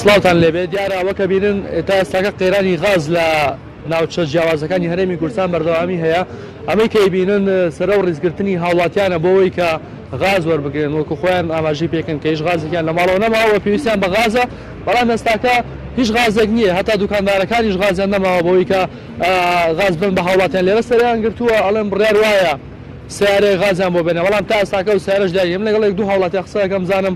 سڵاوتان لێبێت دیارە ئەوە کە بینن تا ئێستاکە قەیرانی غاز لە ناوچە جیاوازەکانی هەرێمی کوردستان بەردەوامی هەیە ئەمەی کەی بینن سەرە و ڕیزگرتنی هاوڵاتیانە بۆەوەی کە غاز وەربگرن وەکو خۆیان ئاماژی پێکن کە هیچ غازێکیان لە ماڵەوە نەماوە پێویستیان بە غازە بەڵام ئێستاکە هیچ غازێک نییە هەتا دوکاندارەکانیش غازیان نەماوە بۆی کە غاز بن بە هاوڵاتیان لێرە سەریان گرتووە ئەڵێن بڕیار وایە سیارەیە غازیان بۆ بێنە بەڵام تا ئێستاکە و سیارش دایم لەگەڵێک دوو هاوڵاتیان قسەکەم زانم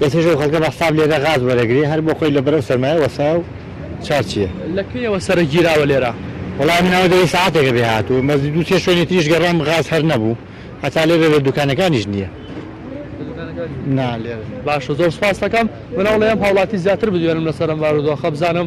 ئێستەش ئەو خەڵکە بە حساب لێرە غاز وەرەگرێ هەر بۆ خۆی لەبەر ئەو سەرمایە وەستا و چار چیە. لە کەیەوە سەرە گیراوە لێرە؟ وەڵا من ئەوە دەوێ سەعاتێکە بێ هاتووم بەس دوو سێ شوێنی تریش گەڕام غاز هەر نەبوو هەتا لێرە لە دوکانەکانیش نیە. لە دوکانەکانیش؟ نا لێرە نیە. باشە زۆر سوپاستەکەم من ئەوڵێم هاوڵاتی زیاتر بدوێنم لەسەر ئەم بارودۆخە بزانم.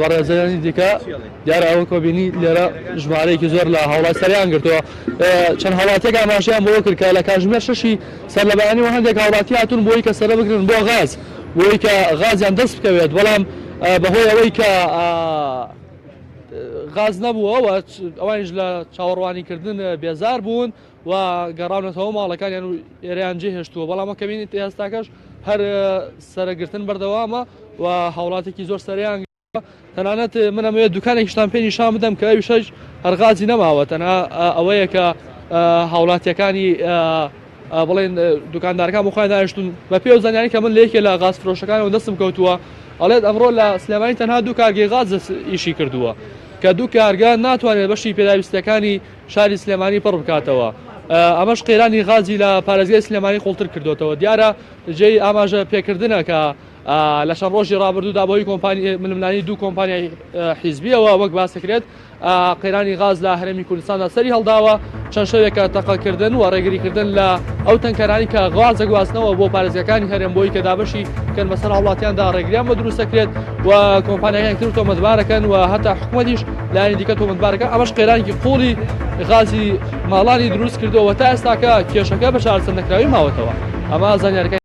بەڕێزەرانی دیکە دیارە ئەوە کۆبینی لێرە ژمارەیەکی زۆر لە هەوڵای سەریان گرتووە چەند هەڵاتێک ئاماشیان بۆ کرد کە لە کاژمێر شەشی سەر لە بەیانی و هەندێک هاوڵاتی هاتون بۆی کە سەرە بگرن بۆ غاز بۆی کە غازیان دەست بکەوێت بەڵام بەهۆی ئەوەی کە غاز نەبووەوە ئەوانش لە چاوەڕوانیکردن بێزار بوون و و گەڕاونەتەوە ماڵەکانیان و ئێرەیان جێهێشتووە، بەڵام وەک بینین تا ئێستاکەش هەر سەرەگرتن بەردەوامە و هاوڵاتێکی زۆر سەریان تەنانەت من ئەمەوێت دوکانێکیشتان پێ نیشان بدەم کە ئەوی شەش هەرغازی نەماوە تەنها ئەوەیە کە هاوڵاتیەکانی بڵێن دوکاندارەکان بۆ خۆیان دانیشتون بە پێ زانانی کە من لە یەکێ لە غاز فرۆشەکانەوە دەستم کەوتووە ئەڵێت ئەمڕۆ لە سلێمانی تەنها دوو کارگەی غاز ئیشی کردووە کە دوو کارگە ناتوانێت بەشی پێداویستەکانی شاری سلێمانی پڕ بکاتەوە، ئەمەش قەیرانی غازی لە پارێزگای سلێمانی قوڵتر کردۆتەوە، دیارە جێی ئاماژە پێکردنە کە لە چەند ڕۆژی ڕابردوودا بەهۆی کۆمپانیای ململانی دوو کۆمپانیای حیزبیەوە وەک باس دەکرێت قەیرانی غاز لە هەرێمی کوردستاندا سەری هەڵداوە چەند شەوێکە تەقەکردن و ڕێگریکردن لە ئەو تەنکەرانی کە غاز دەگواستنەوە بۆ پارێزگەکانی هەرێم بۆی کە دابەشی کەن بەسەر هاوڵاتیاندا ڕێگریان بە دروستەکرێت و کۆمپانیەکان تر تۆمەتبارەکەن و هەتا حکومەتیش لایەنی دیکە تۆمەتبارەکە ئەمەش قەیرانێکی قوڵی غازی ماڵانی دروست کردووە تا ئێستاکە کێشەکە بە چارەسەر نەکراوی ماوەتەوە ئەمە زانیارەکە